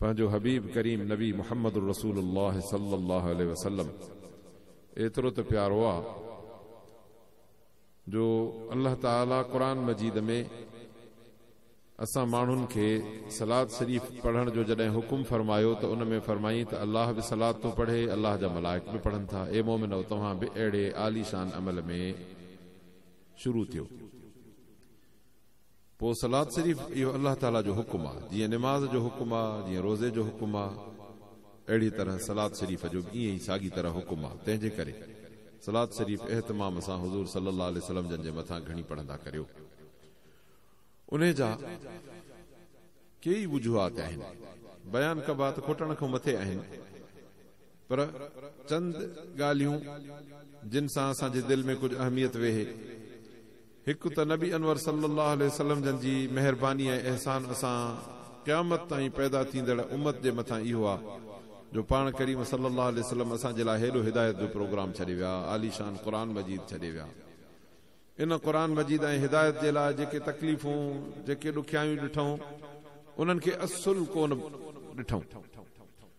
پنهنجو حبيب ڪريم نبي محمد الرسول الله صلي الله عليه وسلم ايترو ته پيارو آ جو الله تعالي قرآن مجيد ۾ اسان ماڻهن کي صلات شريف پڙهڻ جو جڏهن حڪم فرمايو ته ان ۾ فرمائين ته الله به صلات ٿو پڙهي الله جا ملائڪ به پڙهن ٿا اي مومنؤ توهان به اهڙي عاليشان عمل ۾ شروع ٿيو پوء صلات شريف اهو الله تعالي جو حڪم آ، جيئن نماز جو حڪم آ، جيئن روزي جو حڪم آ، اهڙيء طرح صلات شريف جو به ائين ئي ساڳي طرح حڪم آ، تنهن جي ڪري صلات شريف اهتمام سان حضور صلّي اللّٰه عليه وسلّم جن جي مٿان گهڻي پڙهندا ڪريو. انهيء جا ڪيئي وجوهات آهن، بيان ڪبا ته کوٽڻ کان مٿي آهن، پر چند ڳالهيون جن سان اسان جي دل ۾ ڪجهه اهميت ويهي، هڪ ته نبي انور صلّي اللّٰه عليه وسلّم جن جي مهرباني ۽ احسان اسان قيامت تائين پيدا ٿيندڙ امّت جي مٿان اهو آ جو پاڻ ڪريم صلّي اللّٰه عليه وسلّم اسان جي لاء هيڏو هدايت جو پروگرام ڇڏي ويا، عاليشان قرآن مجيد ڇڏي ويا. ان قرآن مجيد ۽ هدايت جي لاء جيڪي تڪليفون، جيڪي ڏکيائيون ڏٺئون، انهن کي اصل ڪونه ڏٺئون.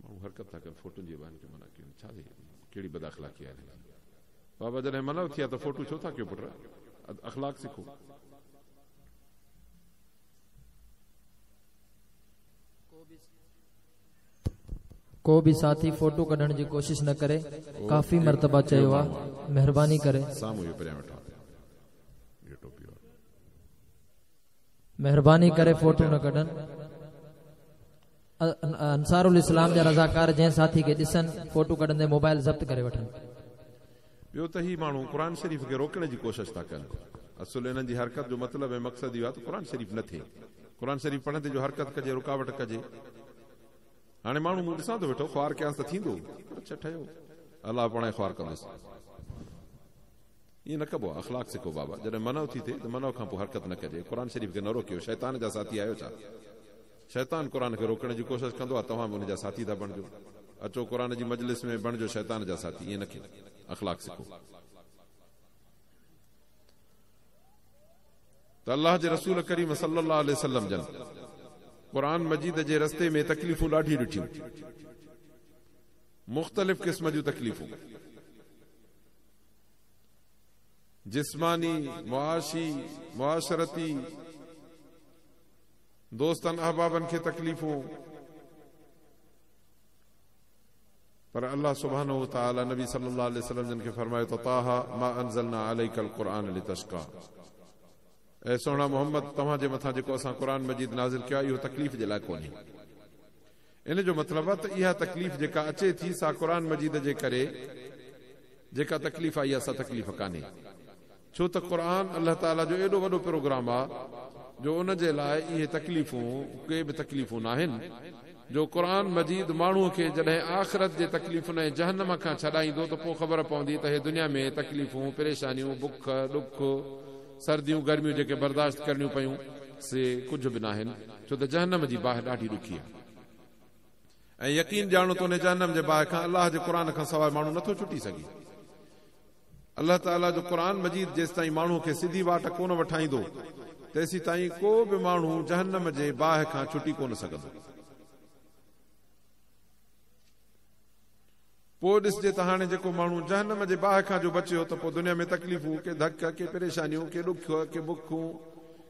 ماڻهو حرڪت ٿا ڪن فوٽن جي ايوان کي منع ڪيون ڇا ٿي ڪهڙي بد اخلاقي آهي هن جي بابا جڏهن منع ٿي آ ته فوٽو ڇو ٿا ڪيو پٽ اخلاق سکو ڪو به ساٿي فوٽو ڪڍڻ جي ڪوشش نه ڪري ڪافي مرتبه چيو آ مهرباني ڪري سامو يو پريان وٺا يو ٽوپي مهرباني ڪري فوٽو نه ڪڍن انصارالاسلام جا رضاڪار جنهن ساٿي کي ڏسن فوٽو ڪڍندي موبائل ضبط ڪري وٺن. ٻيو ته هي ماڻهو قرآن شريف کي روڪڻ جي ڪوشش ٿا ڪن. اصل انهن جي حرڪت جو مطلب ۽ مقصد اهو آهي ته قرآن شريف نه ٿئي. قرآن شريف پڙهندي جو حرڪت ڪجي رڪاوٽ ڪجي. هاڻي ماڻهو مون ڏسان ٿو ويٺو خوار ڪيانس ته ٿيندو؟ پر اڇ ٺهيو الله پاڻهي خوار ڪندس. ائين نه ڪبو آهي اخلاق سکو بابا جڏهن منع ٿي ٿئي ته منع کان پوء حرڪت نه ڪجي. قرآن شريف کي نه روڪيو شيطان جا ساٿي آهيو ڇا؟ شيطان قرآن کي روڪڻ جي ڪوشش ڪندو آهي توهان به ان جا ساٿي ٿا بڻجو اچو قرآن جي مجلس ۾ بڻجو شيطان جا ساٿي ائين نه ڪيو اخلاق سکو ته الله جي رسول ڪريم صلي الله عليه وسلم جن قرآن مجيد جي رستي ۾ تڪليفون ڏاڍي ڏٺيون مختلف قسم جون تڪليفون جسماني معاشي معاشرتي دوستن احبابن کي تڪليفون پر الله سبحانه وتعالي نبي صلي الله عليه وسلم جن کي فرمايو ته طٰه ما انزلنا عليڪ القرآن لتشقا اي سهڻا محمد توهان جي مٿان جيڪو اسان قرآن مجيد نازل ڪيو آهي اهو تڪليف جي لاء ڪونهي ان جو مطلب آهي ته اها تڪليف جيڪا اچي ٿي سا قرآن مجيد جي ڪري جيڪا تڪليف آئي آهي سا تڪليف ڪانهي ڇو ته قرآن الله تعالي جو ايڏو وڏو پروگرام آهي جو ان جي لاء اهي تڪليفون ڪي به تڪليفون ناهن جو قرآن مجيد ماڻهو کي جڏهن آخرت جي تڪليفن ۽ جهنم کان ڇڏائيندو ته پوء خبر پوندي ته هي دنيا ۾ تڪليفون پريشانيون بک ڏک سرديون گرميون جيڪي برداشت ڪرڻيون پيون سي ڪجهه به ناهن ڇو ته جهنم جي باهه ڏاڍي ڏکي آهي ۽ يقين ڄاڻو ته انهي جهنم جي باهه کان الله جي قرآن کان سواء ماڻهو نٿو ڇٽي سگهي. الله تعالي جو قرآن مجيد جيستائين ماڻهو کي سڌي واٽ ڪونه وٺائيندو تيسيتائين ڪو به ماڻهو جهنم جي باهه کان ڇٽي ڪونه سگهندو. پوء ڏسجي ته هاڻي جيڪو ماڻهو جهنم جي باهه کان جو بچيو ته پوء دنيا ۾ تڪليفون، ڪي ڌڪ، ڪي پريشانيون، ڪي ڏک، ڪي بکون،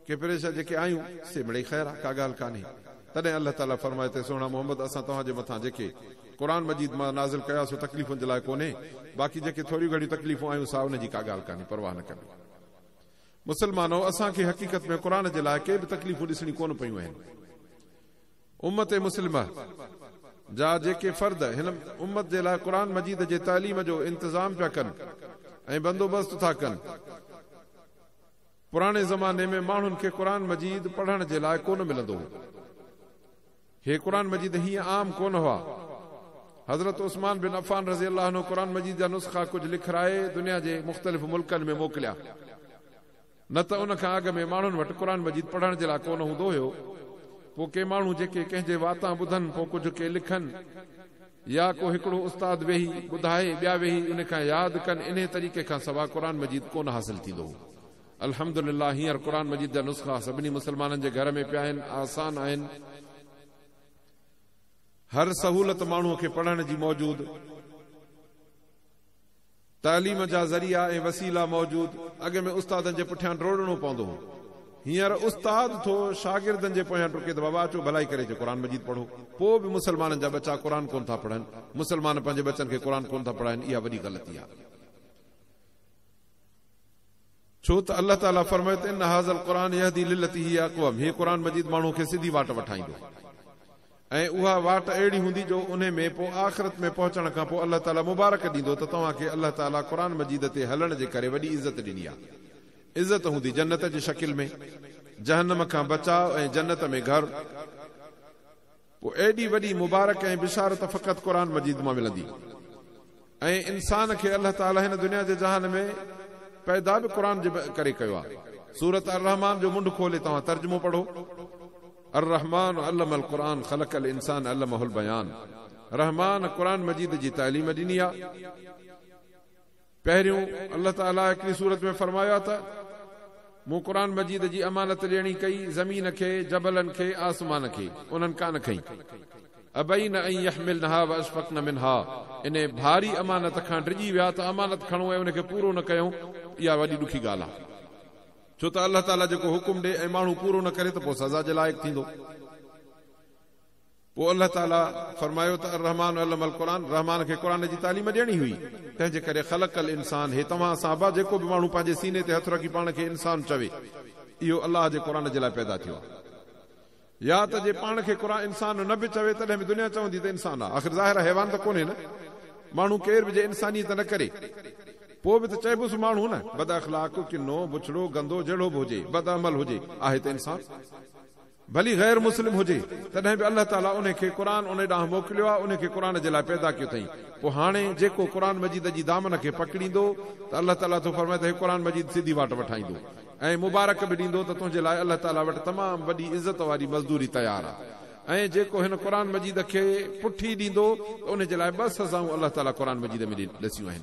ڪي پريشر جيڪي آيون سي مڙئي خير آ، ڪا ڳالهه ڪانهي. تڏهن الله تعاليٰ فرمائي ٿي سهڻا محمد اسان توهان جي مٿان جيڪي، قرآن مجيد، مان نازل ڪيا سو تڪليفن جي لاء ڪونهي، باقي جيڪي ٿوريون گهڻيون تڪليفون آيون سا ان جي ڪا ڳالهه ڪانهي، پرواهه نه ڪبي. مسلمانؤ! اسان کي حقيقت ۾ قرآن جي لاء ڪي به تڪليفون ڏسڻيون ڪونه پيون اهن. امت مسلمه جا جيڪي فرد هن امت جي لاء قرآن مجيد جي تعليم جو انتظام پيا ڪن ۽ بندوبست ٿا ڪن، پراڻي زماني ۾ ماڻهن کي قرآن مجيد پڙهڻ جي لاء ڪونه ملندو هو. هي قرآن مجيد هيئن عام ڪونه هئا. حضرت عثمان بن عفان رضي الله عنه قرآن مجيد جا نسخا ڪجهه لکرائي دنيا جي مختلف ملڪن ۾ موڪليا. نه ته ان کان اڳ ۾ ماڻهن وٽ قرآن مجيد پڙهڻ جي لاء ڪونه هوندو هيو، پوء ڪي ماڻهو جيڪي ڪنهن جي واتان ٻڌن پوء ڪجهه ڪي لکن يا ڪو هڪڙو استاد ويهي ٻڌائي ٻيا ويهي ان کان ياد ڪن انهي طريقي کان سوا قرآن مجيد ڪونه حاصل ٿيندو هو. الحمد لله هينئر قرآن مجيد جا نسخا سڀني مسلمانن جي گهر ۾ پيا آهن آسان آهن هر سهولت ماڻهو کي پڙهڻ جي موجود. تعليم جا ذريعا ۽ وسيلا موجود، اڳ ۾ استادن جي پٺيان ڊوڙڻو پوندو هو، هينئر استاد ٿو شاگردن جي پويان ڊڪي ته بابا اچو ڀلائي ڪري اچي قرآن مجيد پڙهو، پوء به مسلمانن جا ٻچا قرآن ڪونه ٿا پڙهن، مسلمان پنهنجي ٻچن کي قرآن ڪونه ٿا پڙهائين، اها وڏي غلطي آهي. ڇو ته الله تعاليٰ فرمائي ته ان هٰذا القرآن يهدي للتي هي اقوم، هي قرآن مجيد ماڻهوء کي سڌي واٽ وٺائيندو ۽ اها واٽ اهڙي هوندي جو انهي ۾ پوء آخرت ۾ پهچڻ کان پوء الله تعاليٰ مبارڪ ڏيندو ته توهان کي الله تعاليٰ قرآن مجيد تي هلڻ جي ڪري وڏي عزت ڏني آهي. عزت هوندي جنت جي شڪل ۾، جهنم کان بچاء ۽ جنت ۾ گهر. پوء ايڏي وڏي مبارڪ ۽ بشارت فقط قرآن مجيد مان ملندي ۽ انسان کي الله تعالي هن دنيا جي جهان ۾ پيدا به قرآن جي ڪري ڪيو آهي. سورة الرحمان جو منڍ کولي توهان ترجمو پڙهو، الرحمان علم القرآن خلق الانسان علمه البيان رحمان قرآن مجيد جي تعليم ڏني آهي. پهريون الله تعاليٰ هڪڙي سورت ۾ فرمايو آهي ته، مون قرآن مجيد جي امانت ڏيڻي ڪئي، زمين کي، جبلن کي، آسمان کي، انهن ڪانه کنئي. ابين ان يحملنها واشفقن منها، انهي ڀاري امانت کان ڊڄي ويا ته امانت کڻون ۽ ان کي پورو نه ڪيون، اها وڏي ڏکي ڳالهه آهي. ڇو ته الله تعاليٰ جيڪو حڪم ڏي ۽ ماڻهو پورو نه ڪري ته پوء سزا جي لائق ٿيندو. پوء الله تعالي فرمايو ته الرحمٰن علم القرآن، رحمان کي قرآن جي تعليم ڏيڻي هئي، تنهنجي ڪري خلق الانسان هي توهان سان به جيڪو به ماڻهو پنهنجي سيني تي هٿ رکي پاڻ کي انسان چوي اهو الله جي قرآن جي لاء پيدا ٿيو آهي يا ته جي پاڻ کي قرآن انسان نه به چوي تڏهن به دنيا چوندي ته انسان آهي آخر ظاهر آهي حيوان ته ڪونهي نه ماڻهو ڪير به جي انسانيت نه ڪري پوء به ته چئبوس ماڻهو نه بداخلاق ڪنو بڇڙو گندو جهڙو به هجي بدعمل هجي آهي ته انسان ڀلي غير مسلم هجي، تڏهن به الله تعاليٰ انهي کي قرآن انهي ڏانهن موڪليو آهي، انهي کي قرآن جي لاء پيدا ڪيو اٿئي. پوء هاڻي جيڪو قرآن مجيد جي دامن کي پڪڙيندو ته الله تعاليٰ ٿو فرمائي ته هي قرآن مجيد سڌي واٽ وٺائيندو ۽ مبارڪ به ڏيندو ته تنهنجي لاء الله تعاليٰ وٽ تمام وڏي عزت واري مزدوري تيار آهي ۽ جيڪو هن قرآن مجيد کي پٺي ڏيندو ته انهي جي لاء ٻه سزائون الله تعاليٰ قرآن مجيد ۾ ڏسيون آهن.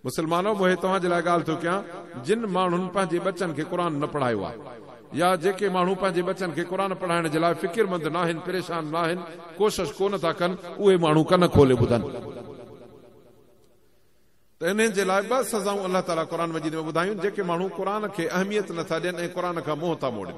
مسلمانؤ! مون اهي توهان جي لاء ڳالهه ٿو ڪيان، جن ماڻهن پنهنجي ٻچن کي قرآن نه پڙهايو آهي، يا جيڪي ماڻهو پنهنجي ٻچن کي قرآن پڙهائڻ جي لاء فڪرمند ناهن، پريشان ناهن، ڪوشش ڪو نه ٿا ڪن، اهي ماڻهو ڪن کولي ٻڌن ته انهن جي لاء ٻه سزائون الله تعاليٰ قرآن مجيد ۾ ٻڌايون، جيڪي ماڻهو قرآن کي اهميت نه ٿا ڏين ۽ قرآن کان منهن ٿا موڙين.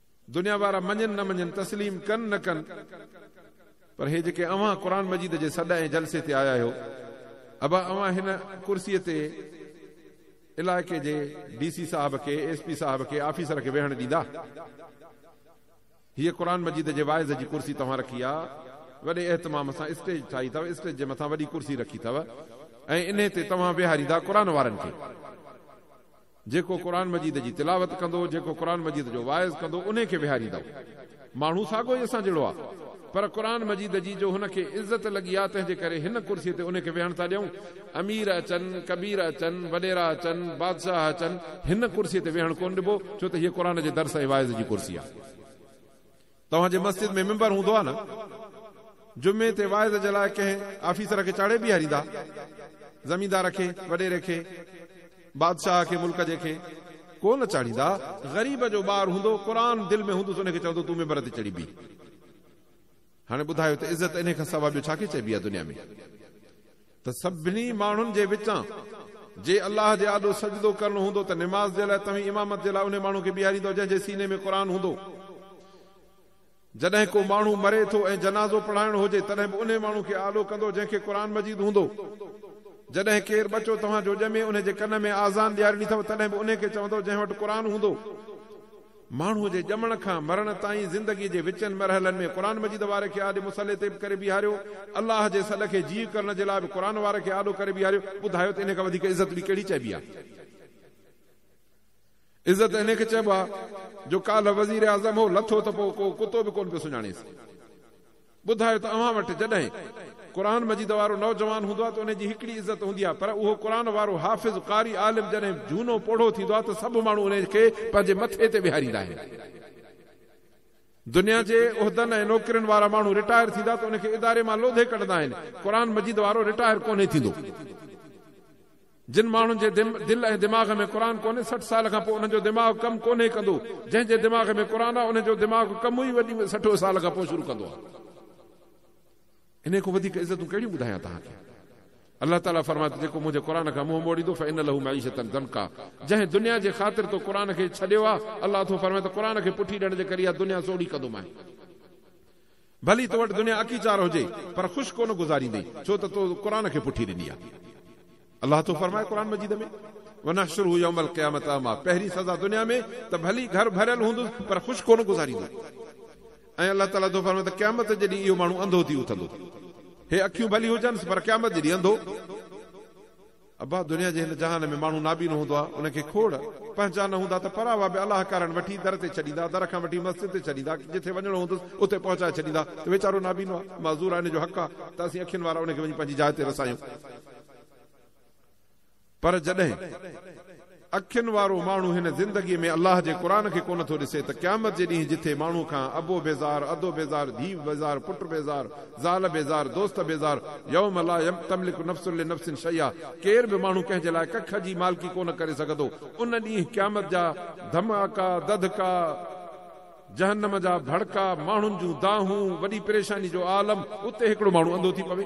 دنيا وارا مڃين نه مڃين، تسليم ڪن نه ڪن، پر هي جيڪي اوهان قرآن مجيد جي سڏ ۽ جلسي تي آيا آهيو، ابا اوهان هن ڪرسيء تي علائقي جي ڊي سي صاحب کي، ايس پي صاحب کي، آفيسر کي ويهڻ ڏيندا؟ هيء قرآن مجيد جي واعظ جي ڪرسي توهان رکي آ، وڏي اهتمام سان اسٽيج ٺاهي اٿو، اسٽيج جي مٿان وڏي ڪرسي رکي اٿو ۽ انهي تي توهان ويهاريندا قرآن وارن کي؟ جيڪو قرآن مجيد جي تلاوت ڪندو، جيڪو قرآن مجيد جو واعظ ڪندو، انهي کي ويهاريندؤ. ماڻهو ساڳو ئي اسان جهڙو آ، پر قرآن مجيد جي جو هن کي عزت لڳي آ، تنهن جي ڪري هن ڪرسي تي انهي کي ويهڻ ٿا ڏيئون. امير اچن، ڪبير اچن، وڏيرا اچن، بادشاهه اچن، هن ڪرسي تي ويهڻ ڪونه ڏبو، ڇو ته هيء قرآن جي درس ۽ واعظ جي ڪرسي آ. توهان جي مسجد ۾ ممبر هوندو آ نه؟ جمعي تي واعظ جي لاء ڪنهن آفيسر کي چاڙهي بيهاريندا؟ زميندار کي، وڏيري کي، بادشاهه کي، ملڪ جي کي ڪو نه چاڙهيندا. غريب جو ٻار هوندو، قرآن دل ۾ هوندس ان کي چوندو تون ممبر تي چڙهي بيهه. هاڻي ٻڌايو ته عزت انهي کان سوا ٻيو ڇا کي چئبي آ دنيا ۾؟ ته سڀني ماڻهن جي وچان جي الله جي آڏو سجدو ڪرڻو هوندو ته نماز جي لاء توهين امامت جي لاء انهي ماڻهو کي بيهاريندؤ جنهن جي سيني ۾ قرآن هوندو. جڏهن ڪو ماڻهو مري ٿو ۽ جنازو پڙهائڻو هجي تڏهن به انهي ماڻهو کي آڏو ڪندؤ جنهن کي قرآن مجيد هوندو. جڏهن ڪير ٻچو توهان جو ڄمي انهي جي ڪن ۾ آذان ڏيارڻي اٿو تڏهن به انهي کي چوندؤ جنهن وٽ قرآن هوندو. ماڻهوء جي ڄمڻ کان مرڻ تائين زندگيء جي وچين مرحلن ۾ قرآن مجيد واري کي آڏي مصلي تي به ڪري بيهاريو، الله جي سڏ کي جيء ڪرڻ جي لاء به قرآن واري کي آڏو ڪري بيهاريو، ٻڌايو ته انهيء کان وڌيڪ عزت ٻي ڪهڙي چئبي آهي؟ عزت انهيء کي چئبو آهي جو ڪالهه وزيراعظم هو، لٿو ته پوء ڪو ڪتو به ڪونه پيو سڃاڻيس. ٻڌايو ته اوهان وٽ جڏهن قرآن مجيد وارو نوجوان هوندو آهي ته ان جي هڪڙي عزت هوندي آهي پر اهو قرآن وارو حافظ، قاري، عالم جڏهن جهونو پوڙهو ٿيندو آهي ته سڀ ماڻهو ان کي پنهنجي مٿي تي ويهاريندا آهن. دنيا جي عهدن ۽ نوڪرين وارا ماڻهو رٽائر ٿيندا ته ان کي اداري مان لوڌي ڪڍندا آهن، قرآن مجيد وارو رٽائر ڪونهي ٿيندو. جن ماڻهن جي دل ۽ دماغ ۾ قرآن ڪونهي سٺ سال کان پوء انهن جو دماغ ڪم ڪونهي ڪندو جنهن جي دماغ ۾ قرآن آهي انهن جو دماغ ڪم ئي وڏي سٺ سال کان پوء شروع ڪندو آهي انهي کان وڌيڪ عزتون ڪهڙيون ٻڌايان توهان کي الله تعالي فرمائي ٿو جيڪو منهنجي قرآن کان منهن موڙيندو فإن له معيشة ضنڪا جنهن دنيا جي خاطر تو قرآن کي ڇڏيو آهي الله ٿو فرمائي ته قرآن کي پٺي ڏيڻ جي ڪري اها دنيا سوڙهي ڪندومانء ڀلي تو وٽ دنيا اڪي چار هجي پر خوش ڪونه گذاريندي ڇو ته تو قرآن کي پٺي ڏني آهي الله ٿو فرمائي قرآن مجيد ۾ ونحشره يوم القيامة اعميٰ پهرين سزا دنيا ۾ ته ڀلي گهر ڀريل هوندس پر خوش ڪونه گذاريندو ۽ الله تعالي ٿو فرمائي ته قيامت جي ڏينهن اهو ماڻهو انڌو ٿي اٿندو هي اکيون ڀلي هجنس پر قيامت جي ڏينهن انڌو ابا! دنيا جي هن جهان ۾ ماڻهو نابينو هوندو آهي، ان کي کوڙ، پنهچان نه هوندا ته پراوا به الاهه ڪارڻ وٺي در تي ڇڏيندا، در کان وٺي مسجد تي ڇڏيندا، جٿي وڃڻو هوندس اتي پهچائي ڇڏيندا ته ويچارو نابينو آهي، معذور آهي، ان جو حق آهي ته اسين اکين وارا ان کي وڃي پنهنجي جاء تي رسايون. پر جڏهن. اکين وارو ماڻهو هن زندگيء ۾ الله جي قرآن کي ڪونه ٿو ڏسي ته قيامت جي ڏينهن جٿي ماڻهو کان ابو بيزار، ادو بيزار، ڌيء بيزار، پٽ بيزار، زال بيزار، دوست بيزار، يوم لا تملڪ نفس لنفس شيئا، ڪير به ماڻهو ڪنهن جي لاء ڪک جي مالڪي ڪونه ڪري سگهندو، ان ڏينهن قيامت جا ڌماڪا، دڌڪا، جهنم جا ڀڙڪا، ماڻهن جون دانهون، وڏي پريشاني جو عالم، اتي هڪڙو ماڻهو انڌو ٿي پوي.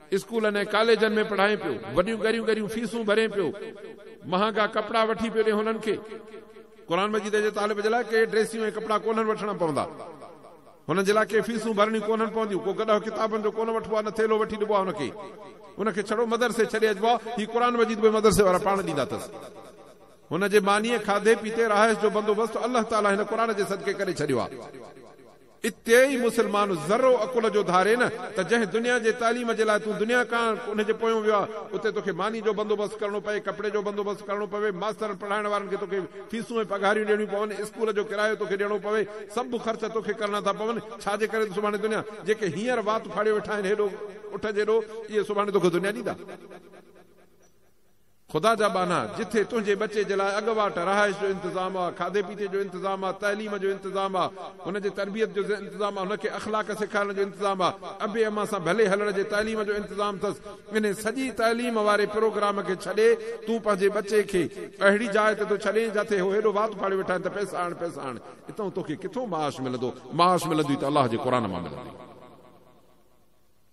اسڪولن ۽ ڪاليجن ۾ پڙهائين پيو، وڏيون ڳريون ڳريون فيسون ڀرين پيو، مهانگا ڪپڙا وٺي پيو ڏي هنن کي قرآن مجيد جي طالب جي لاء ڪي ڊريسيون ۽ ڪپڙا ڪونهن وٺڻا پوندا، هنن جي لاء ڪي فيسون ڀرڻيون ڪونهن پونديون، ڪو گڏهه ڪتابن جو ڪونه وٺبو آهي نه ٿيلهو وٺي ڏبو آهي هن کي، هن کي ڇڙو مدرسي ڇڏي اچبو آهي، هي قرآن مجيد به مدرسي وارا پاڻ ڏيندا اٿس، هن جي مانيء، کاڌي پيتي، رهائش جو بندوبست الله تعاليٰ هن قرآن جي صدقي ڪري ڇڏيو آهي. اتي ئي مسلمان ذرو عقل جو ڌاري نه ته جنهن دنيا جي تعليم جي لاء تون دنيا ڪاڻ ان جي پويون ويو آهي اتي توکي ماني جو بندوبست ڪرڻو پئي ڪپڙي جو بندوبست ڪرڻو پوي ماسترن پڙهائڻ وارن کي توکي فيسون ۽ پگهاريون ڏيڻيون پون اسڪول جو ڪرايو توکي ڏيڻو پوي سڀ خرچ توکي ڪرڻا ٿا پون ڇا جي ڪري ته سڀاڻي دنيا جيڪي هينئر وات ڦاڙيو ويٺا آهن هيڏو اٺ جيڏو اهي سڀاڻي توکي دنيا ڏيندا. خدا جا ٻانها، جٿي تنهنجي ٻچي جي لاء اڳواٽ رهائش جو انتظام آ، کاڌي پيتي جو انتظام آ، تعليم جو انتظام آ، هن جي تربيت جو انتظام آ، هن کي اخلاق سيکارڻ جو انتظام آ، ابي امان سان ڀلي هلڻ جي تعليم جو انتظام ٿس، انهي سڄي تعليم واري پروگرام کي ڇڏي تون پنهنجي ٻچي کي اهڙي جاء تي ٿو ڇڏين جاٿي هو هيڏو وات ڦاڙي ويٺا آهن ته پئسا آڻ پئسا آڻ، اتئون توکي ڪٿئون معاش ملندو، معاش ملندوئي ته الله جي قرآن مان ملندوئي.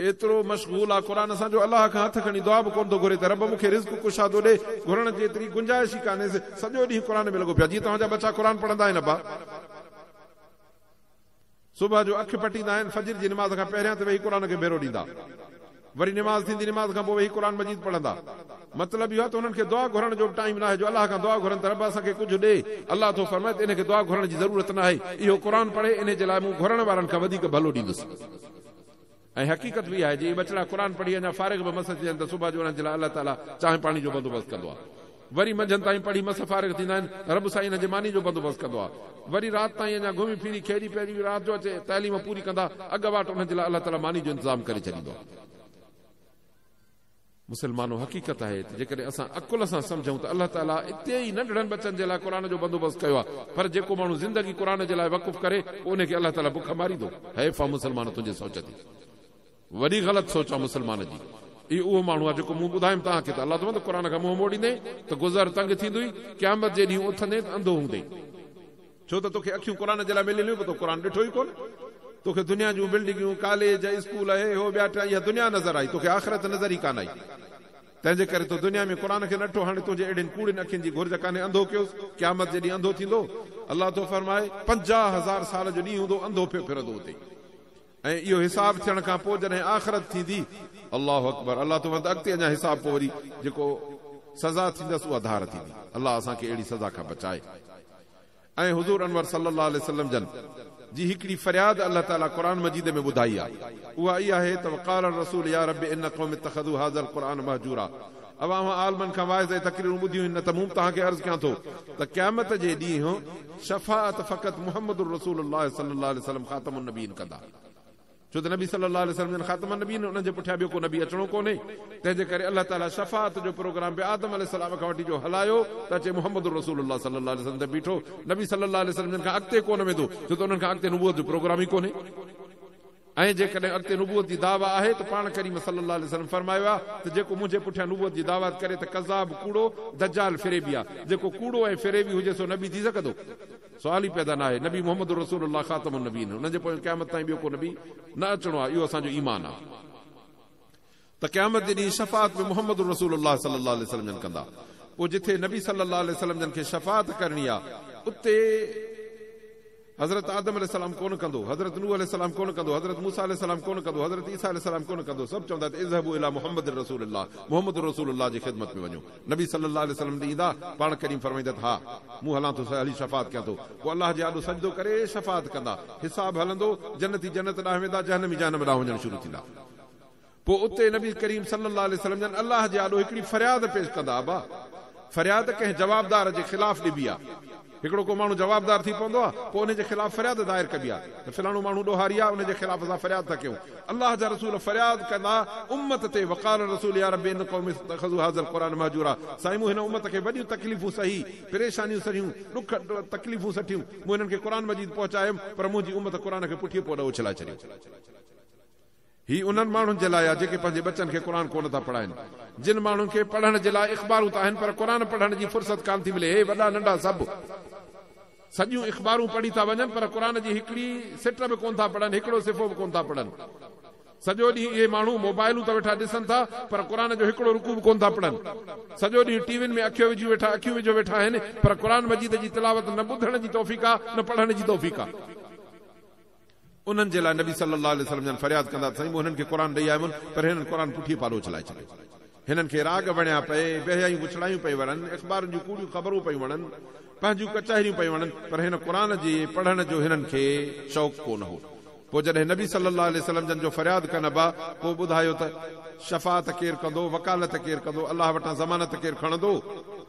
ايترو مشغول آ قرآن سان جو الله کان هٿ کڻي دعا به ڪونه ٿو گهري ته رب مون کي رزق ڪشادو ڏي، گهرڻ جي ايتري گنجائش ئي ڪانهيس، سڄو ڏينهن قرآن ۾ لڳو پيو آ، جيئن توهان جا ٻچا قرآن پڙهندا آهن ابا! صبح جو اک پٽيندا آهن، فجر جي نماز کان پهريان ته ويهي قرآن کي ڀيرو ڏيندا، وري نماز ٿيندي، نماز کان پوء ويهي قرآن مجيد پڙهندا، مطلب اهو آ ته انهن کي دعا گهرڻ جو به ٽائيم ناهي جو الله کان دعا گهرن ته رب اسان کي ڪجهه ڏي، الله ٿو فرمائي ته انهي کي دعا گهرڻ جي ضرورت ناهي، اهو قرآن پڙهي، انهي جي لاء مون گهرڻ وارن کان وڌيڪ ڀلو ڏيندس. ۽ حقيقت به اها آهي جي اهي ٻچڙا قرآن پڙهي اڃا فارغ به مس ٿي وڃن ته صبح جو انهن جي لاء الله تعالي چانهه پاڻي جو بندوبست ڪندو آهي وري منجهند تائين پڙهي مس فارغ ٿيندا آهن رب سائين انهن جي ماني جو بندوبست ڪندو آهي وري رات تائين اڃا گهمي ڦري کيڏي پيڙي رات جو اچي تعليم پوري ڪندا اڳ واٽ انهن جي لاء الله تعالي ماني جو انتظام ڪري ڇڏيندو آهي. مسلمانو! حقيقت آهي ته جيڪڏهن اسان عقل سان سمجهون ته الله تعاليٰ اتي ئي ننڍڙن ٻچن جي لاء قرآن جو بندوبست ڪيو آهي، پر جيڪو ماڻهو زندگي قرآن جي لاء وقف ڪري پوء ان کي الله تعاليٰ بک ماريندو. حيف آ مسلمان تنهنجي سوچ جي. وڏي غلط سوچ آ مسلمان جي. هي اهو ماڻهو آ جيڪو مون ٻڌايم توهان کي ته الله توهان ته قرآن کان منهن موڙيندين ته گذر تنگ ٿيندوئي، قيامت جي ڏينهن اٿندين ته انڌو هوندين. ڇو ته توکي اکيون قرآن جي لاء مليل هيون پر تو قرآن ڏٺو ئي ڪونه. توکي دنيا جون بلڊنگيون، ڪاليج، اسڪول، هي هو ٻيا ٽيا اها دنيا نظر آئي، توکي آخرت نظر ئي ڪانه آئي. تنهنجي ڪري تو دنيا ۾ قرآن کي نه ڏٺو هاڻي تنهنجي اهڙين ڪوڙين اکين جي گهرج ڪانهي انڌو ڪيوس، قيامت جي ڏينهن انڌو ٿيندو. الله ٿو فرمائي، پنجاهه هزار سال جو ڏينهن هوندو انڌو پيو ڦرندو اتي. ۽ اهو حساب ٿيڻ کان پوء جڏهن آخرت ٿيندي، الله اڪبر، الله تو وند اڳتي اڃا حساب پوء وري جيڪو سزا ٿيندس اها ڌار ٿيندي، الله اسان کي اهڙي سزا کان بچائي ۽ حضور انور صلي الله عليه وسلم جن جي هڪڙي فرياد الله تعالي قرآن مجيد ۾ ٻڌائي آهي اها اها آهي ته وقال الرسول يا رب ان قوم اتخذوا هذا القرآن مهجورا اوهان اوهان عالمن کان واعظ ۽ تقريرون ٻڌيون هن نه ته مون توهان کي عرض ڪيان ٿو ته قيامت جي ڏينهن شفاعت فقط محمد الرسول الله صلي الله عليه وسلم خاتم النبين ڪندا ڇو ته نبي صلي الله عليه وسلم جن خاتم النبين انهن جي پٺيان ٻيو ڪو نبي اچڻو ڪونهي تنهن جي ڪري الله تعالي شفاعت جو پروگرام به آدم عليه السلام کان وٺي جو هلايو ته اچي محمد الرسول الله صلي الله عليه وسلم تي بيٺو نبي صلي الله عليه وسلم جن کان اڳتي ڪونه ويندو ڇو ته انهن کان اڳتي نبوت جو پروگرام ئي ڪونهي ۽ جيڪڏهن اڳتي نبوت جي دعويٰ آهي ته پاڻ ڪريم صلّي اللّٰه عليه وسلّم فرمايو آهي ته جيڪو منهنجي پٺيان نبوت جي دعويٰ ڪري ته ڪذّاب، ڪوڙو، دجّال، فريبي آهي. جيڪو ڪوڙو ۽ فريبي هجي سو نبي ٿي سگهندو؟ سوال ئي پيدا ناهي. نبي محمّد رسول اللّٰه خاتم النّبيين، انهن جي پويان قيامت تائين ٻيو ڪو نبي نه اچڻو آهي، اهو اسان جو ايمان آهي. ته قيامت جي ڏينهن شفاعت به محمد رسول الله صلي الله عليه وسلم جن ڪندا پوء جتي نبي صلي الله عليه وسلم جن کي شفاعت ڪرڻي آ اتي حضرت آدم عليه السلام ڪونه ڪندو حضرت نوح عليه السلام ڪونه ڪندو حضرت موسي عليه السلام ڪونه ڪندو حضرت عيسي عليه السلام ڪونه ڪندو سڀ چوندا ته اذهبوا الي محمد رسول الله محمد رسول الله جي خدمت ۾ وڃو نبي صلي الله عليه وسلم ڏي ايندا پاڻ ڪريم فرمائيندا ته ها مون هلان ٿو هلي شفاعت ڪيان ٿو پوء الله جي آڏو سجدو ڪري شفاعت ڪندا حساب هلندو جنتي جنت ڏانهن ويندا جهنمي جهنم ڏانهن وڃڻ شروع ٿيندا پوء اتي نبي ڪريم صلي الله عليه وسلم جن الله جي آڏو هڪڙي فرياد پيش ڪندا ابا! فرياد ڪنهن جوابدار جي خلاف ڏبي آ. هڪڙو ڪو ماڻهو جوابدار ٿي پوندو آ، پوء ان جي خلاف فرياد دائر ڪبي آ ته فلاڻو ماڻهو ڏوهاري آ، ان جي خلاف اسان فرياد ٿا ڪيون. الله جا رسول فرياد ڪندا امت تي وقال الرسول يا رب ان قوم اتخذوا هذا القرآن مهجورا سائين مون هن امت کي وڏيون تڪليفون سهي، پريشانيون سهيون، ڏک تڪليفون سٺيون، مون هنن کي قرآن مجيد پهچايم پر منهنجي امت قرآن کي پٺيء پوڏ اڇلائي ڇڏيو. هي انهن ماڻهن جي لاء آهي جيڪي پنهنجي ٻچن کي قرآن ڪونه ٿا پڙهائين. جن ماڻهن کي پڙهڻ جي لاء اخبارون ته آهن پر قرآن پڙهڻ جي فرصت ڪانه ٿي ملي. هي وڏا ننڍا سڀ سڄيون اخبارون پڙهي ٿا وڃن پر قرآن جي هڪڙي سٽ به ڪونه ٿا پڙهن، هڪڙو صفحو به ڪونه ٿا پڙهن. سڄو ڏينهن اهي ماڻهو موبائلون ته ويٺا ڏسن ٿا پر قرآن جو هڪڙو رڪوع به ڪونه ٿا پڙهن. سڄو ڏينهن ٽي وين ۾ اکيون وجهيون ويٺا اکيون وجهيو ويٺا آهن پر قرآن مجيد جي تلاوت نه ٻڌڻ جي توفيق آهي نه پڙهڻ جي توفيق آهي. انهن جي لاء نبي صلّي اللّٰه عليه وسلّم جان فرياد ڪندا ته سائين مون هنن کي قرآن ڏئي آيو هئم پر هنن قرآن پٺيء پارو اڇلائي ڇڏيو. هنن کي راڳ وڻيا پئي، ويهيائيون وڇڙايون پئي وڻن، اخبارن جون ڪوڙيون خبرون پيون وڻن، پنهنجون ڪچهريون پيون وڻن، پر هن قرآن جي پڙهڻ جو هنن کي شوق ڪو نه هو. پوء جڏهن نبي صلّي اللّٰه عليه وسلّم جن جو فرياد ڪن ابا پوء ٻڌايو ته شفاعت ڪير ڪندو، وڪالت ڪير ڪندو، الله وٽان ضمانت ڪير کڻندو؟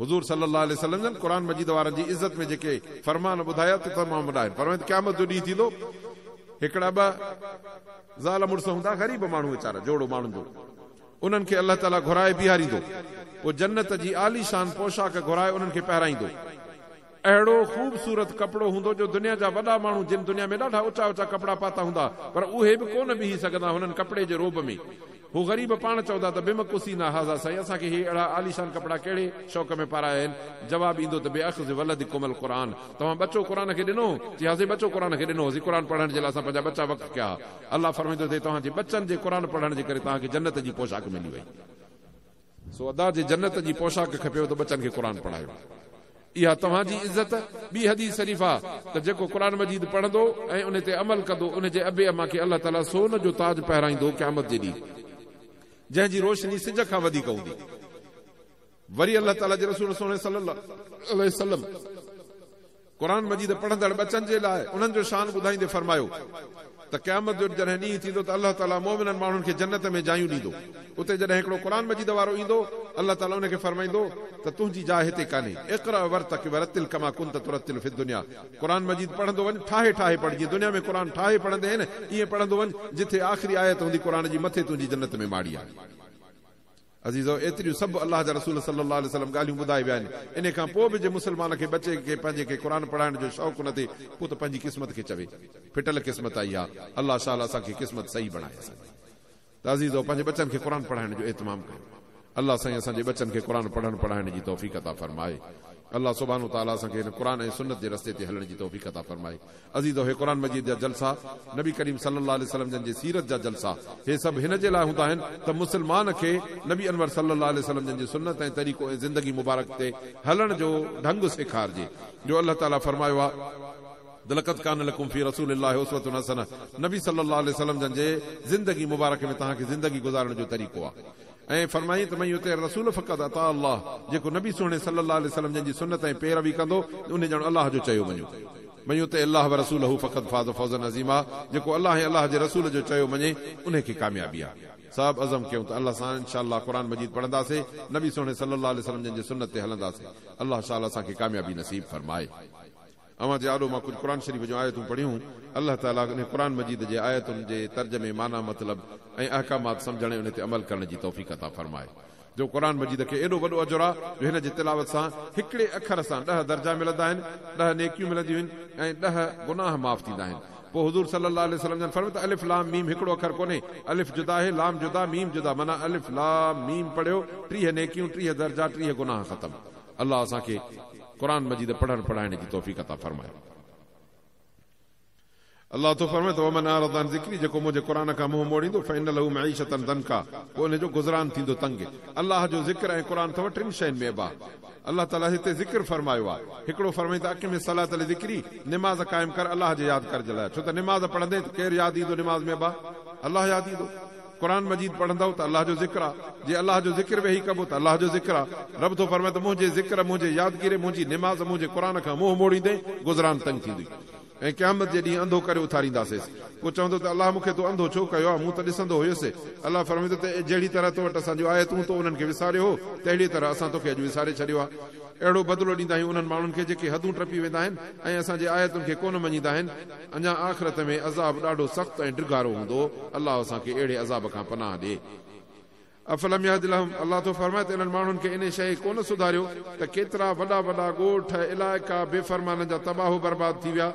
حضور صلّي اللّٰه عليه وسلّم جن قرآن مجيد وارن جي عزّت ۾ جيڪي فرمان ٻڌايا ته تمام وڏا آهن. فرمايو ته قيامت جو ڏينهن ٿيندو هڪڙا ٻه زال مڙس هوندا غريب ماڻهو ويچارا جوڙو ماڻهن جو انهن کي الله تعاليٰ گهرائي بيهاريندو پوء جنّت جي عالي شان پوشاڪ گهرائي انهن کي پهرائيندو. اهڙو خوبصورت ڪپڙو هوندو جو دنيا جا وڏا ماڻهو جن دنيا ۾ ڏاڍا اچا اچا ڪپڙا پاتا هوندا پر اهي به ڪونه بيهي سگهندا هنن ڪپڙي جي رعب ۾ هو غريب پاڻ چوندا ته بمقوسينا هاذا سائين اسان کي هي اهڙا عاليشان ڪپڙا ڪهڙي شوق ۾ پارايا آهن جواب ايندو ته باخذ ولدڪم القرآن توهان ٻچو قرآن کي ڏنو جي ها سائين ٻچو قرآن کي ڏنو هوسين قرآن پڙهڻ جي لاء اسان پنهنجا ٻچا وقف ڪيا ها الله فرمائيندو ته توهان جي ٻچن جي قرآن پڙهڻ جي ڪري توهان کي جنت جي پوشاڪ ملي وئي سو ادا جي جنت جي پوشاڪ کپيو ته ٻچن کي قرآن پڙهايو. اها توهان جي عزت. ٻي حديث شريف آ ته جيڪو قرآن مجيد پڙهندو ۽ ان تي عمل ڪندو ان جي ابي اما کي الله تعالي سون جو تاج پهرائيندو قيامت جي ڏينهن جنهن جي روشني سج کان وڌيڪ هوندي. وري الله تعالي جي رسول سهڻي صلي الله عليه وسلم قرآن مجيد پڙهندڙ ٻچن جي لاء انهن جو شان ٻڌائيندي فرمايو ته قيامت جو جڏهن ڏينهن ٿيندو ته الله تعالي مؤمنن ماڻهن کي جنت ۾ جايون ڏيندو اتي جڏهن هڪڙو قرآن مجيد وارو ايندو الله تعالي ان کي فرمائيندو ته تنهنجي جاء هتي ڪانهي اقرأ ورتقي ورتل ڪما ڪنت ترتل في الدنيا قرآن مجيد پڙهندو وڃ ٺاهي ٺاهي پڙهه جيئن دنيا ۾ قرآن ٺاهي پڙهندي هين ائين پڙهندو وڃ جتي آخري آيت هوندي قرآن جي مٿي تنهنجي جنت ۾ ماڙي آهي. عزيزؤ! ايتريون سڀ الله جا رسول صلّي اللّٰه عليه وسلّم ڳالهيون ٻڌائي ويا آهن، انهي کان پوء به جي مسلمان کي ٻچي کي پنهنجي کي قرآن پڙهائڻ جو شوق نه ٿئي پوء ته پنهنجي قسمت کي چوي ڦٽل قسمت آهي اها، الله شاله اسان کي قسمت صحيح بڻائي اسان جي ته عزيزؤ پنهنجي ٻچن کي قرآن پڙهائڻ جو اهتمام ڪيو الله سائين اسان جي ٻچن کي قرآن پڙهڻ پڙهائڻ جي توفيق عطا فرمائي الله سبحانه وتعالٰي اسان کي هن قرآن ۽ سنّت جي رستي تي هلڻ جي توفيق عطا فرمائي عزيزو! هي قرآن مجيد جا جلسا، نبي ڪريم صلي الله عليه وسلم جن جي سيرت جا جلسا، هي سڀ هن جي لاء هوندا آهن ته مسلمان کي نبي انور صلي الله عليه وسلم جن جي سنت ۽ طريقو ۽ زندگي مبارڪ تي هلڻ جو ڍنگ سيکارجي جو الله تعاليٰ فرمايو آهي لقد ڪان لڪم في رسول الله اسوة حسنة نبي صلي الله عليه وسلم جن جي زندگي مبارڪ ۾ توهان کي زندگي گذارڻ جو طريقو آهي. ائين فرمائين ته من يطع الرسول فقد اطاع الله جيڪو نبي سهڻي صلّي الله عليه وسلّم جن جي سنّت ۽ پيروي ڪندو ان ڄڻ الله جو چيو مڃيو. من يطع الله ورسوله فقد فاز فوزا عظيما جيڪو الله ۽ الله جي رسول جو چيو مڃي انهي کي ڪاميابي آ. صاحب عزم ڪيون ته الله سان انشاء الله قرآن مجيد پڙهنداسين نبي سهڻي صلّي الله عليه وسلّم جن جي سنّت تي هلنداسين الله شاء الله اسان کي ڪاميابي نصيب فرمائي. اوهان جي آڏو مان ڪجهه قرآن شريف جون آيتون پڙهيون. الله تعاليٰ انهي قرآن مجيد جي آيتن جي ترجمي، معنيٰ، مطلب ۽ احڪامات سمجهڻ ۽ انهي تي عمل ڪرڻ جي توفيق عطا فرمائي جو قرآن مجيد کي ايڏو وڏو اجر آهي جو هن جي تلاوت سان هڪڙي اکر سان ڏهه درجا ملندا آهن، ڏهه نيڪيون ملنديون آهن ۽ ڏهه گناهه معاف ٿيندا آهن. پوء حضور صلي الله عليه وسلم جن فرمايو ته الف لام ميم هڪڙو اکر ڪونهي، الف جدا آهي، لام جدا، ميم جدا معنيٰ الف لام ميم پڙهيو، ٽيهه نيڪيون، ٽيهه درجا، ٽيهه گناهه ختم. الله اسان کي قرآن مجيد پڙهڻ پڙهائڻ جي توفيق عطا فرمائي. الله ٿو فرمائي ته ومن اعرض عن ذڪري جيڪو منهنجي قرآن کان منهن موڙيندو فان له معيشة ضنڪا پوء ان جو گذران ٿيندو تنگ. الله جو ذڪر ۽ قرآن اٿم ٽن شين ۾ اباهه. الله تعالي هتي ذڪر فرمايو آهي. هڪڙو فرمائي ته اقم الصلاة لذڪري نماز قائم ڪر الله جي ياد ڪرج لاء ڇو ته نماز پڙهندين ته ڪير ياد ايندو نماز ۾ اباهه الله ياد ايندو. قرآن مجيد پڙهندؤ ته الله جو ذڪر آ، جي الله جو ذڪر ويهي ڪبو ته الله جو ذڪر آ، رب ٿو فرمائي ته منهنجي ذڪر، منهنجي يادگيري، منهنجي نماز، منهنجي قرآن کان منهن موڙيندين، گذران تنگ ٿيندي ۽ قيامت جي ڏينهن انڌو ڪري اٿارينداسيس، پوء چوندو ته الله مون کي تو انڌو ڇو ڪيو آ، مون ته ڏسندو هيس، الله فرمائيندو ته اي جهڙي طرح تو وٽ اسان جون آيتون تو انهن کي وساريو هو، تهڙيء طرح اسان توکي اڄ وساري ڇڏيو آ. اهڙو بدلو ڏيندا آهيون انهن ماڻهن کي جيڪي حدون ٽپي ويندا آهن ۽ اسان جي آيتن کي ڪونه مڃيندا آهن. اڃا آخرت ۾ عذاب ڏاڍو سخت ۽ ڊگهارو هوندو، الله اسان کي اهڙي عذاب کان پناهه ڏي. افلم يهد لهم، الله ٿو فرمائي ته انهن ماڻهن کي انهي شيء ڪونه سڌاريو ته ڪيترا وڏا وڏا ڳوٺ، علائقا، بي فرمانن جا تباهه برباد ٿي ويا،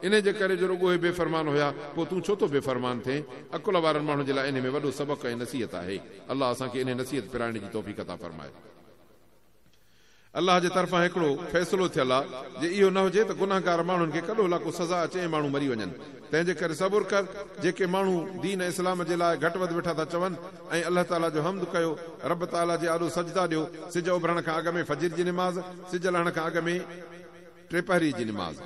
انهي جي ڪري جو رڳو اهي بي فرمان هيا، پوء تون ڇو ٿو بي فرمان ٿئين؟ عقل وارن ماڻهن جي لاء انهي ۾ وڏو سبق ۽ نصيحت آهي. الله اسان کي انهي نصيحت پرائڻ جي توفيق عطا فرمائي. الله جي طرفان هڪڙو فيصلو ٿيل آ، جي اهو نه هجي ته گنهگار ماڻهن کي ڪڏهو لاڪو سزا اچي ۽ ماڻهو مري وڃن، تنهن جي ڪري صبر ڪر، جيڪي ماڻهو دين اسلام جي لاء گهٽ وڌ ويٺا ٿا چون ۽ الله تعاليٰ جو حمد ڪيو، رب تعاليٰ جي آڏو سجدا ڏيو، سج اڀرڻ کان اڳ ۾، فجر جي نماز، سج لهڻ کان اڳ ۾، ٽي پهري جي نماز.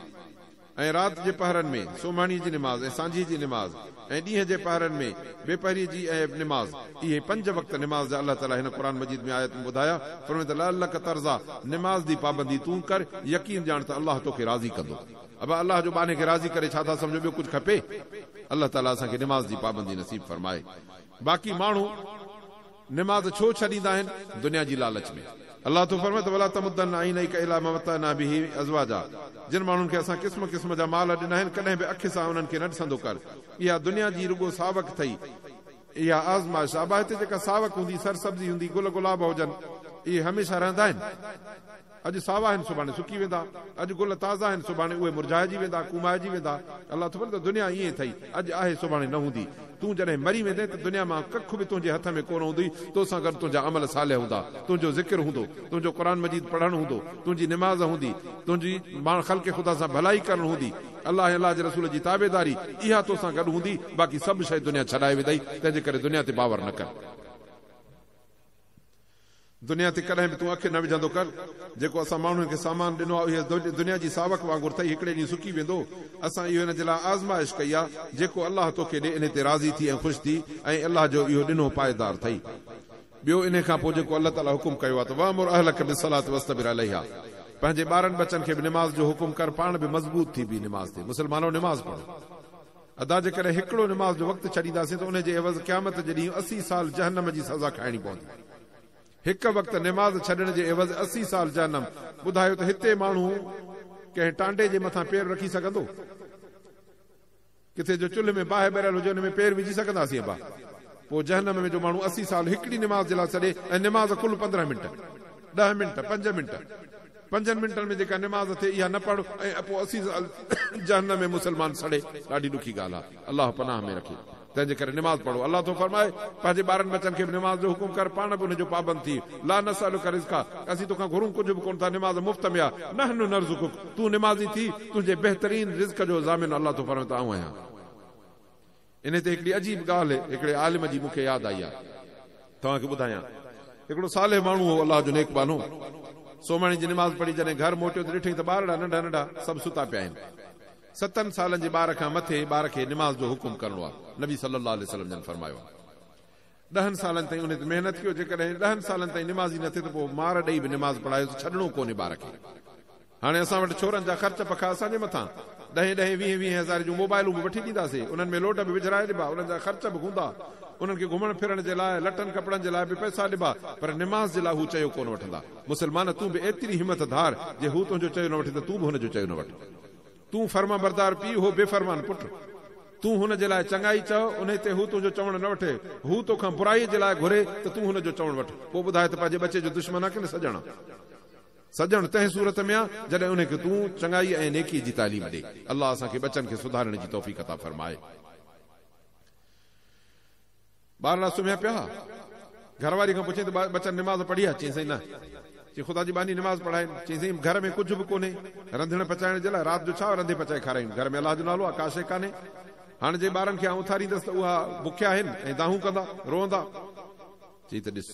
۽ رات جي پهرن ۾ سومهڻي جي نماز ۽ سانجهيء جي نماز ۽ ڏينهن جي پهرن ۾ بي پهريء جي اهي نماز، اهي پنج وقت نماز جا الله تعاليٰ هن قرآن مجيد ۾ آيتون ٻڌايا، فرمائي ته لعلک ترضيٰ، نماز دي پابندي تون ڪر، يقين ڄاڻ ته الله توکي راضي ڪندو. ابا الله جو ٻانهي کي راضي ڪري ڇا ٿا سمجهو ٻيو ڪجهه کپي؟ الله تعاليٰ اسان کي نماز جي پابندي نصيب فرمائي. باقي ماڻهو. نماز ڇو ڇڏيندا آهن؟ دنيا جي لالچ ۾. الله ٿو فرمائي ته ولا تمدن عينيڪ الي ما متعنا به ازواجا جن ماڻهن کي اسان قسم قسم جا مال ڏنا آهن ڪڏهن به اک سان انهن کي نه ڏسندو ڪر. اها دنيا جي رڳو ساوڪ ٿئي. اها آزمائش آ. باهه تي جيڪا ساوڪ هوندي، سرسبزي هوندي، گل گلاب هجن، اهي هميشه رهندا آهن. اڄ ساوا آهن سڀاڻي سڪي ويندا، اڄ گل تازا آهن سڀاڻي اهي مرجهائجي ويندا، ڪومائجي ويندا. الله ٿو ڀلي ته دنيا ائين ئي ٿئي، اڄ آهي سڀاڻي نه هوندي. تون جڏهن مري ويندين ته دنيا مان ڪک به تنهنجي هٿ ۾ ڪونه هوندي، تو سان گڏ تنهنجا عمل صالح هوندا، تنهنجو ذڪر هوندو، تنهنجو قرآن مجيد پڙهڻ هوندو، تنهنجي نماز هوندي، تنهنجي ماڻ خلق خدا سان ڀلائي ڪرڻ هوندي، الله ۽ الله جي رسول جي تابعداري اها تو سان گڏ هوندي، باقي سڀ شيء دنيا ڇڏائي ويندئي، تنهنجي ڪري دنيا تي باور نه ڪر. دنيا تي ڪڏهن به تون اک نه وجهندو ڪر. جيڪو اسان ماڻهن کي سامان ڏنو آهي اهو دنيا جي ساوڪ وانگر ٿئي هڪڙي ڏينهن سڪي ويندو. اسان اهو هن جي لاء آزمائش ڪئي آهي. جيڪو الله توکي ڏي انهي تي راضي ٿي ۽ خوش ٿي ۽ الله جو اهو ڏنو پائيدار ٿئي. ٻيو انهي کان پوء جيڪو الله تعالي حڪم ڪيو آهي ته وامر اهلک بالصلات واصطبر عليها پنهنجي ٻارن ٻچن کي به نماز جو حڪم ڪر پاڻ به مضبوط ٿي بيهه نماز تي. مسلمانو نماز پڙهو. ادا جيڪڏهن هڪڙو نماز جو وقت ڇڏينداسين ته ان جي عيوض قيامت جي ڏينهن اسي سال جهنم جي سزا کائڻي پوندي. هڪ وقت نماز ڇڏڻ جي عيوض اسي سال جهنم، ٻڌايو ته هتي ماڻهو ڪنهن ٽانڊي جي مٿان پير رکي سگهندو؟ ڪٿي جو چلهه ۾ باهه ٻريل هجي ان ۾ پير وجهي سگهنداسين ابا؟ پوء جهنم ۾ جو ماڻهو اسي سال هڪڙي نماز جي لاء ڇڏي ۽ نماز ڪل پندرهن منٽ، ڏهه منٽ، پنج منٽ، پنجن منٽن ۾ جيڪا نماز ٿئي اها نه پڙهه ۽ پوء عزيز ال جهنم ۾ مسلمان سڙي ڏاڍي ڏکي ڳالهه آهي الله پناهه ۾ رکي تنهن جي ڪري نماز پڙهو الله ٿو فرمائي پنهنجي ٻارن ٻچن کي به نماز جو حڪم ڪر پاڻ به ان جو پابند ٿي لا نسألک رزقا اسين تو کان گهرون ڪجهه به ڪونه ٿا نماز مفت ۾ آهي نحن نرزقک تون نمازي ٿي تنهنجي بهترين رزق جو ضامن الله ٿو فرمائي ته آئون آهيان انهي تي هڪڙي عجيب ڳالهه هڪڙي عالم جي مون کي ياد آئي آهي توهان کي ٻڌايان. هڪڙو صالح ماڻهو هو الله جو نيڪ ٻانهو. سومهڻي جي نماز پڙهي جڏهن گهر موٽيو ته ڏٺئي ته ٻارڙا ننڍا ننڍا سڀ ستا پيا آهن. ستن سالن جي ٻار کان مٿي ٻار کي نماز جو حڪم ڪرڻو آهي. نبي صلي الله عليه وسلم جن فرمايو آهي. ڏهن سالن تائين ان تي محنت ڪيو، جيڪڏهن ڏهن سالن تائين نمازي نه ٿئي ته پوء مار ڏئي به نماز پڙهايو ته ڇڏڻو ڪونهي ٻار کي. هاڻي اسان وٽ ڇورن جا خرچ پکا اسان جي مٿان، ڏهين ڏهين ويهين ويهين هزارين جون موبائلون به وٺي ڏينداسين، انهن ۾ لوڊ به وجهرائي ڏبا، انهن جا خرچ به هوندا، انهن کي گهمڻ ڦرڻ جي لاء، لٽن ڪپڙن جي لاء به پئسا ڏبا، پر نماز جي لاء هو چيو ڪونه وٺندا. مسلمان تون به ايتري همت ڌار، جي هو تنهنجو چيو نه وٺي ته تون به هن جو چيو نه وٺ. تون فرمانبردار پيء، هو بي فرمان پٽ. تون هن جي لاء چڱائي چئه، انهيء تي هو تنهنجو چوڻ نه وٺي. هو تو کان برائيء جي لاء گهري ته تون هن جو چوڻ وٺ. پوء ٻڌاء ته پنهنجي ٻچي جو دشمن آ ڪنه سڄڻ آ؟ سڄڻ تنهن صورت ۾ آ، جڏهن انهيء کي تون چڱائيء ۽ نيڪيء جي تعليم ڏي. الله اسان کي ٻچن کي سڌارڻ جي توفيق عطا فرمائي. ٻارڙا سمهيا پيا ها. گهر واري کان پڇيائين ته ٻچا نماز پڙهي ها؟ چيائين سائين نه. چيائين خدا جي ٻانهي نماز پڙهائين. چيائين سائين گهر ۾ ڪجهه به ڪونهي. رنڌڻ پچائڻ جي لاء رات جو ڇا رنڌي پچائي کارائيون. گهر ۾ الله جو نالو آهي ڪا شيء ڪانهي. هاڻ جي ٻارن کي آئون اٿاريندس ته اها بکيا آهن ۽ دانهون ڪندا، روئندا. چيائين ته ڏس.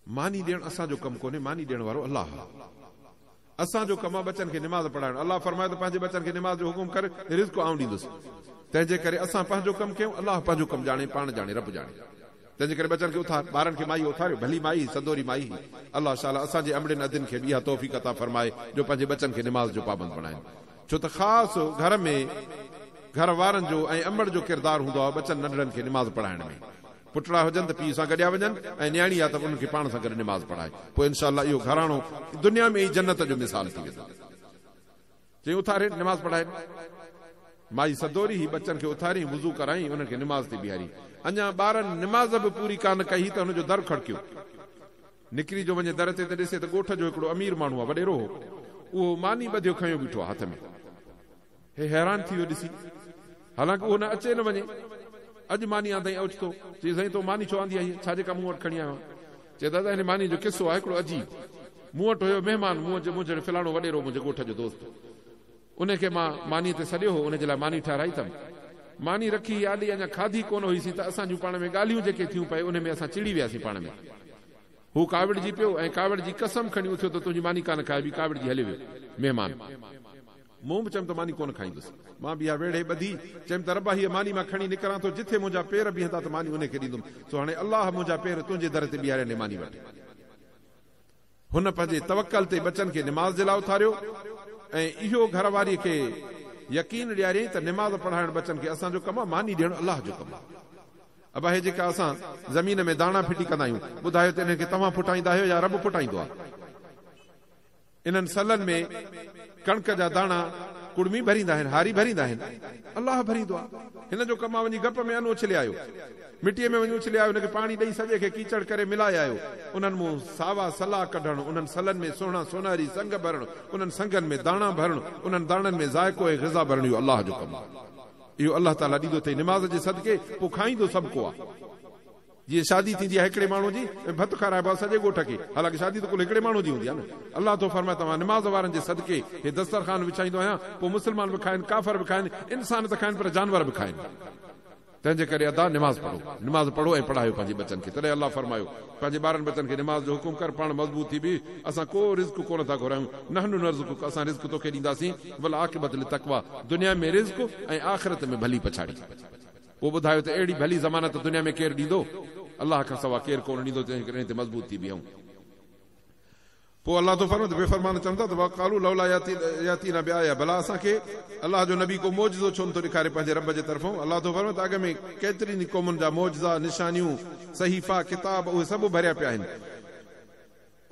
ماني ڏيڻ اسان جو ڪم ڪونهي، ماني ڏيڻ وارو الله آهي. اسان جو ڪم آهي ٻچن کي نماز پڙهائڻ. الله فرمايو ته پنهنجي ٻچن کي نماز جو حڪم ڪر، رزق آئون ڏيندس. تنهن جي ڪري اسان پنهنجو ڪم ڪيون، الله پنهنجو ڪم ڄاڻي، پاڻ ڄاڻي، رب ڄاڻي. تنهن جي ڪري ٻچن کي اٿار، ٻارن کي مائيء اٿاريو، ڀلي مائي هئي، سندوري مائي هئي. الله شالا اسان جي امڙين ادين کي به اها توفيق عطا فرمائي جو پنهنجي ٻچن کي نماز جو پابند بڻائين. ڇو ته خاص گهر ۾ گهر وارن جو ۽ امڙ جو ڪردار هوندو آهي ٻچن ننڍڙن کي نماز پڙهائڻ ۾. پٽڙا هجن ته پيء سان گڏيا وڃن ۽ نياڻي آ ته انهن کي پاڻ سان گڏ نماز پڙهائي. پوء انشاء الله اهو گهراڻو دنيا ۾ ئي جنت جو مثال ٿي ويندو. چيائين اٿارين نماز پڙهائين. مائي سدوري هي ٻچن کي اٿاريائين وضو ڪرايائين انهن کي نماز تي بيهاريائين. اڃا ٻارن نماز به پوري ڪانه ڪئي هئي ته هن جو در کڙڪيو. نڪري جو وڃي در تي ته ڏسي ته ڳوٺ جو هڪڙو امير ماڻهو آ وڏيرو هو. اهو ماني ٻڌيو کنيو بيٺو آ هٿ ۾. هي حيران ٿي ويو ڏسي، حالانڪه اهو نه اچي نه وڃي. اڄ ماني آندائين اوچتو، چيس، سائين تو ماني ڇو آندي آهي هيء؟ ڇا جيڪا مون وٽ کڻي آيو آهين؟ چيس، دادا هن مانيء جو قصو آهي هڪڙو عجيب. مون وٽ هيو مهمان، مون جو منهنجڙ فلاڻو وڏيرو منهنجي ڳوٺ جو دوست. انهي کي مان مانيء تي سڏيو هو، انهي جي لاء ماني ٺهرائي اٿم. ماني رکي هي آڏي اڃا کاڌي ڪونه هئي سين ته اسان جون پاڻ ۾ ڳالهيون جيڪي ٿيون پئي انهي ۾ اسان چڙي وياسين پاڻ ۾. هو ڪاوڙجي پيو ۽ ڪاوڙجي قسم کڻي اٿيو ته تنهنجي ماني ڪانه کائبي، ڪاوڙجي هليو ويو مهمان. مون به چيم ته ماني ڪونه کائيندس. مان به اها ويڙهي ٻڌي، چيم ته ربا هيء ماني مان کڻي نڪران ٿو، جٿي منهنجا پير بيهندا ته ماني انهي کي ڏيندم، سو هاڻي الله منهنجا پير تنهنجي در تي بيهاريا ني ماني وٺ. هن پنهنجي توڪل تي ٻچن کي نماز جي لاء اٿاريو ۽ اهو گهر واريء کي يقين ڏياريائين ته نماز پڙهائڻ ٻچن کي اسان جو ڪم آهي، ماني ڏيڻ الله جو ڪم آهي. ابا هي جيڪا اسان زمين ۾ داڻا ڦٽي ڪندا آهيون، ٻڌايو ته انهن کي توهان ڦٽائيندا آهيو يا رب ڦٽائيندو آهي؟ انهن سلن ۾ ڪڻڪ جا داڻا ڪڙمي ڀريندا آهن، هاري ڀريندا آهن، الله ڀريندو آ. هن جو ڪم آ وڃي گپ ۾ ان اڇلي آيو. مٽيء ۾ وڃي اڇلي آيو، ان کي پاڻي ڏئي سڄي کي ڪيچڙ ڪري ملائي آيو. انهن مون ساوا سلا ڪڍڻ، انهن سلن ۾ سهڻا سونهري سنگ ڀرڻ، انهن سنگن ۾ داڻا ڀرڻ، انهن داڻن ۾ ذائقو ۽ غذا ڀرڻ اهو الله جو ڪم آ. اهو الله تعاليٰ ڏيندو اٿئي نماز جي صدقي، پوء کائيندو سڀ ڪو آ. جيئن شادي ٿيندي آهي هڪڙي ماڻهو جي ۽ ڀت کارائبو آهي سڄي ڳوٺ کي حالانڪه شادي ته ڪل هڪڙي ماڻهو جي هوندي آهي نه الله ٿو فرمائي ته مان نماز وارن جي صدقي هي دسترخوان وڇائيندو آهيان پوء مسلمان به کائن ڪافر به کائن انسان ته کائن پر جانور به کائن تنهن جي ڪري ادا نماز پڙهو نماز پڙهو ۽ پڙهايو پنهنجي ٻچن کي تڏهن الله فرمايو پنهنجي ٻارن ٻچن کي نماز جو حڪم ڪر پاڻ مضبوط ٿي بيهه اسان ڪو رزق ڪونه ٿا گهرايون نحن نرزقک اسان رزق توکي ڏينداسين والعاقبت للتقويٰ دنيا ۾ رزق ۽ آخرت ۾ ڀلي پڇاڙي پوء ٻڌايو ته اهڙي ڀلي ضمانت دنيا ۾ ڪير ڏيندو؟ الله کان سوا ڪير ڪونه ڏيندو جنهن کي ڏني تي مضبوط ٿي بيهون. پوء الله ٿو فرمائي ته بي فرمان چون ٿا ته وقالوا لولا ياتينا بآيه ڀلا اسان کي الله جو نبي ڪو معجزو ڇو نٿو ڏيکاري پنهنجي رب جي طرفون؟ الله ٿو فرمائي ته اڳ ۾ ڪيترين ئي قومن جا معجزا، نشانيون، صحيفا، ڪتاب اهي سڀ ڀريا پيا آهن.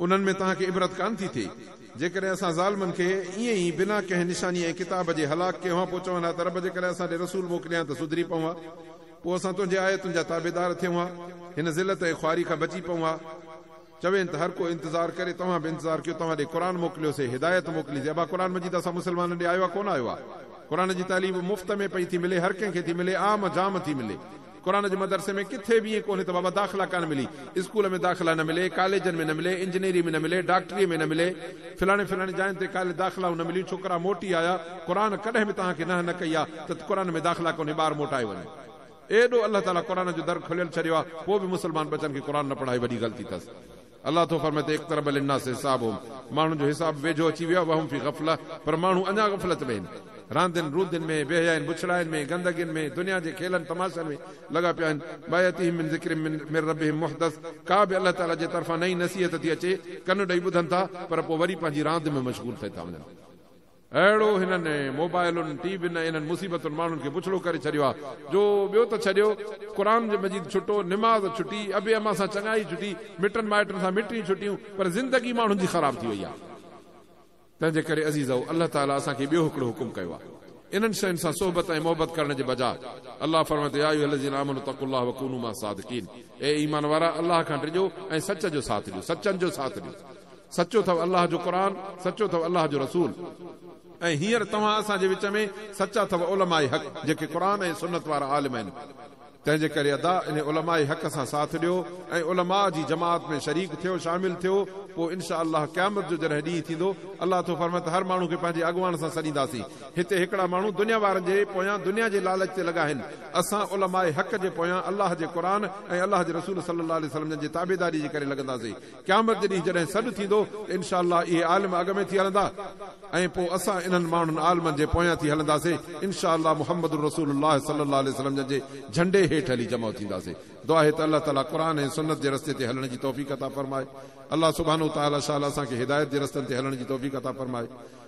انهن ۾ توهان کي عبرت ڪانه ٿي ٿئي؟ جيڪڏهن اسان ظالمن کي ائين ئي بنا ڪنهن نشانيء ۽ ڪتاب جي هلاڪ ڪيون ها پوء چون ها ته رب جيڪڏهن اسان ڏي رسول موڪلي هان ته سڌري پئون ها. پوء اسان تنهنجي آيتن جا تابعدار ٿيون ها. هن ذلت ۽ خواري کان بچي پئون ها. چوين ته هر ڪو انتظار ڪري توهان به انتظار ڪيو توهان ڏي قرآن موڪليوسين، هدايت موڪليسين، ابا قرآن مجيد اسان مسلمانن ڏي آيو آهي ڪونه آيو آهي؟ قرآن جي تعليم مفت ۾ پئي ٿي ملي، هر ڪنهن کي ٿي ملي، عام جام ٿي ملي. قرآن جي مدرسي ۾ ڪٿي به ائين ڪونهي ته بابا داخلا ڪانه ملي، اسڪول ۾ داخلا نه ملي، ڪاليجن ۾ نه ملي، انجنيري ۾ نه ملي، ڊاڪٽريء ۾ نه ملي، فلاڻي فلاڻي جاين تي ڪالي داخلائون نه مليون، ڇوڪرا موٽي آيا، قرآن ڪڏهن به توهان کي نهه نه ڪئي آهي ته قرآن ۾ داخلا ڪونهي ٻار موٽائي وڃو. ايڏو الله تعاليٰ قرآن جو در کليل ڇڏيو آهي پوء به مسلمان ٻچن کي قرآن نه پڙهائي وڏي غلطي اٿس. الله ٿو فرمائي ته اقترب للناس حسابهم ماڻهن جو حساب ويجهو اچي ويو آهي وهم في غفله پر ماڻهو اڃا غفلت ۾ آهن راندين روندين ۾ بي حيائين بڇڙاين ۾ گندگين ۾ دنيا جي کيلن تماشن ۾ لڳا پيا آهن ماياتيهم من ذڪر من ربهم محدث ڪا به الله تعالي جي طرفان نئين نصيحت ٿي اچي ڪن ڏئي ٻڌن ٿا پر پوء وري پنهنجي راند ۾ مشغول ٿئي ٿا وڃن. اهڙو هنن موبائلن، ٽي وين ۽ انهن مصيبتن ماڻهن کي بڇڙو ڪري ڇڏيو آهي جو ٻيو ته ڇڏيو قرآن مجيد ڇٽو، نماز ڇٽي، ابي اما سان چڱائي ڇٽي، مٽن مائٽن سان مٽيون ڇٽيون پر زندگي ماڻهن جي خراب ٿي وئي آهي. تنهنجي ڪري عزيزؤ الله تعاليٰ اسان کي ٻيو هڪڙو حڪم ڪيو آهي انهن شين سان صحبت ۽ محبت ڪرڻ جي بجاء الله فرمائي ٿو يا ايها الذين آمنوا اتقوا الله وڪونوا مع الصادقين اي ايمان وارا الله کان ڊڄو ۽ سچ جو ساٿ ڏيو، سچن جو ساٿ ڏيو. سچو ٿو الله جو قرآن، سچو ٿو الله جو رسول ۽ هينئر توهان اسان جي وچ ۾ سچا ٿو علماء حق جيڪي قرآن ۽ سنت وارا عالم آهن. تنهن جي ڪري ادا انهي علماء حق سان ساٿ ڏيو ۽ علماء جي جماعت ۾ شريڪ ٿيو شامل ٿيو پوء انشاء الله قيامت جو جڏهن ڏينهن ٿيندو الله ٿو فرمائي ته هر ماڻهو کي پنهنجي اڳواڻ سان سڏينداسين هتي هڪڙا ماڻهو دنيا وارن جي پويان دنيا جي لالچ تي لڳا آهن اسان علماء حق جي پويان الله جي قرآن ۽ الله جي رسول صلي الله عليه وسلم جن جي تابعداري جي ڪري لڳنداسين قيامت جي ڏينهن جڏهن سڏ ٿيندو ته انشاء الله اهي عالم اڳ ۾ ٿي هلندا ۽ پوء اسان انهن ماڻهن عالمن جي پويان ٿي هلنداسين انشاء الله محمد رسول الله صلي الله عليه وسلم جن جي جهنڊي هيٺ هلي جمع ٿينداسين دعا آهي ته الله تعالي قرآن ۽ سنت جي رستي تي هلڻ جي توفيق عطا فرمائي الله سبحانه وتعالي شاء الله اسان کي هدايت جي رستن تي هلڻ جي توفيق عطا فرمائي